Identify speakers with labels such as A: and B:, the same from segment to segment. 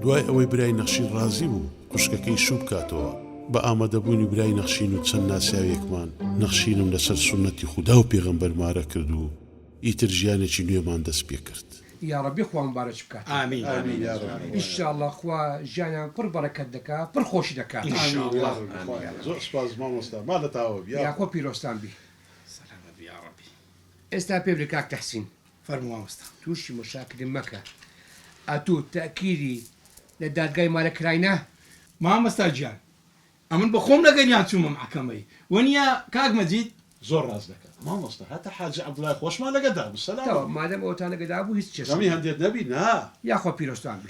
A: دوای ئەوەی برای نەخشین ڕازی بوو خوشکەکەی شوو بکاتەوە، بە ئامادەبوونی برای نەخشین و چەند ناسیاوێکمان، نەخشینم لەسەر سوننەتی خودا و پێغەمبەر مارە کرد و ئیتر ژیانێکی نوێمان دەست پێ کرد. یاڕەبی خوا
B: موبارەک بکات. ئیشاڵا
C: خوا
B: ژیانیان پڕ بەڕەکەت دەکا پڕ خۆش دەکا.
C: زۆر سوپاس
A: مامۆستا ما لە تاوە بی یاخوا پیرۆزتان
B: بی.
C: ئێستا پێ بلێ
B: کاک تەحسین فەرموو مامۆستا.
C: توشی مشاکلی
B: مەکە ئەتو تەئکیلی لە دادگای مارە کراینە؟ مامۆستا
C: گیان ئەمن بەخۆم لەگەریان چومە مەحکەمەی وەنیە کاک مەجید. زۆر ڕاست دەکات
A: مامۆستا هەتا حاجی عبداللە خۆشمان لەگەدا بوو سەلام. تەواو مادەم
B: ئەوەتان
A: لەگەدا بوو
B: هیچ کێشەی. غەمی هەندێت نەبی
A: نا. یاخوا پیرۆزتان
B: بی.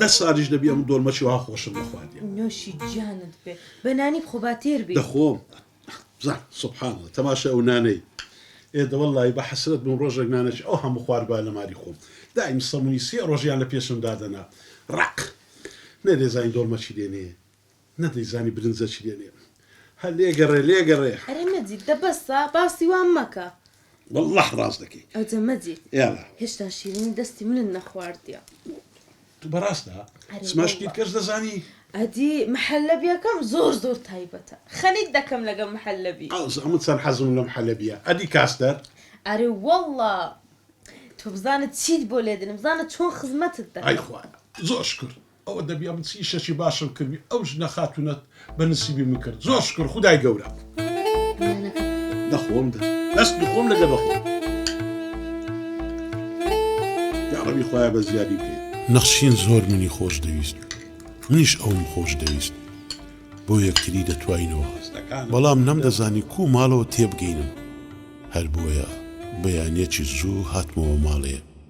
A: دە سالیش دەبی ئەم دۆلمەشی وا خۆشم نەخواردیە. نۆشی جانت
D: بێ بە نانی بخۆ با تێر بی. دەخۆم
A: بزن سبحان اللە تەماشای ئەو نانەی ئێ دە وەڵلایی بە حەسرەت بووم ڕۆژێک نانەکی ئەو هەموو خواربا لە ماری خۆم دایم سەمونی سێ ڕۆژیان لە پێشم دادەنا ڕەق نەێ زانی دۆڵمەچی دێنێ نەدەیزانی برنجە چی دەلێن. هە لێگەڕێ لێگەڕێ. ئەرێ مەجید دە
D: بەسە باسی وام مەکە. وەللە ڕاست
A: دەکەی. ئەوجە مەجید یالا.
D: هێشتا
A: شیرینی
D: دەستی منت نەخواردیە. تو
A: بەراستە؟ ئەرێ سما شتی وەللە. تکەش دەزانی؟ ئەدی
D: محەلەبیەکەم زۆر زۆر تایبەتە. خەریک دەکەم لەگەڵ محەلەبی. ئەوجە من چەند حەزم
A: لە محەلەبیە. ئەدی کاستەر؟ ئەرێ وەللە.
D: تو بزانە چیت بۆ لێدێنم بزانە چۆن خزمەتت ئای دەکەم. خوایە
A: زۆر
D: شکر.
A: ئەو ئەدەبیە من چ ئیشەکی باشم کردبی ئەو ژنە خاتونەت بە نسیبی من کرد زۆر شکر خودای گەورە دەخۆم دە دەست بخۆم لەگە بەخۆم یاڕەبی خۆیان بە زیادی بکەیت نەخشین زۆر منی خۆش دەویست منیش ئەوم خۆش دەویست بۆ یەکتری دەتوانینەوە بەڵام نەمدەزانی کو ماڵەوە تێبگەینم هەر بۆیە بەیانەکی زوو هاتمەوە ماڵێ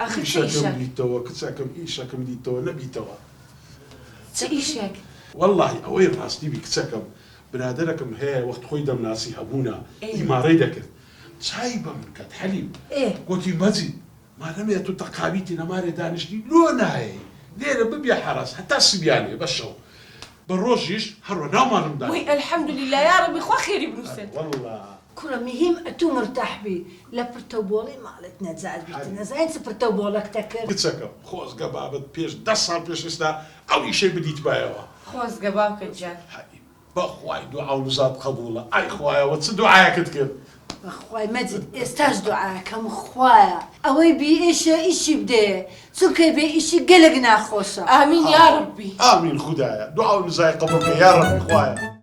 A: ئاخر چ ئیشەکە؟ ئیشەکەم
D: دیتەوە
A: کچەکەم ئیشەکەم دیتەوە نەبیتەوە
D: چ ئیشەک؟ وەڵاهی ئەوەی
A: ڕاستی بی کچەکەم برادەرەکم هەیە وەخت خۆی دەمناسی هەبوونە ئیمارەی دەکرد چای بە من کەت حەلیم گۆتی مەجید مادەمێ تو تەقابیتی لە مارێ دانیشتی لۆ نایەی لێرە ببیە حەراس هەتا سبیانێ بە شەو بە ڕۆژیش هەروە ناو مارم دانیشت وەی الحمدللە
D: یاڕەبی خوا خێری بنوسێت. کوڕە
A: مهیم
E: ئەتو مرتاح بی لە پرتەو بۆڵەی ماڵێت نەجات بی تە نەزانی چ پرتەو بۆڵەک تە کرد. کچەکەم خۆزگە
A: بابت پێش دە ساڵ پێش ئێستا ئەو ئیشەی بدیتبایەوە. خۆزگە باوکت
D: جان. هەی بەخوای
A: دوعاو نزات قبوڵە ئای خوایە وە چ دوعایەکت کرد. بەخوای مەجید
E: ئێستاش دوعاکەم خوایە ئەوەی بی ئیشە ئیشی بدەیێ چونکە بێ ئیشی گەلەک ناخۆشە
A: ئامین
D: یاڕەبی.
A: ئامین خودایە دوعاو نزای قبوڵ
E: کە
D: یاڕەبی
A: خوایە.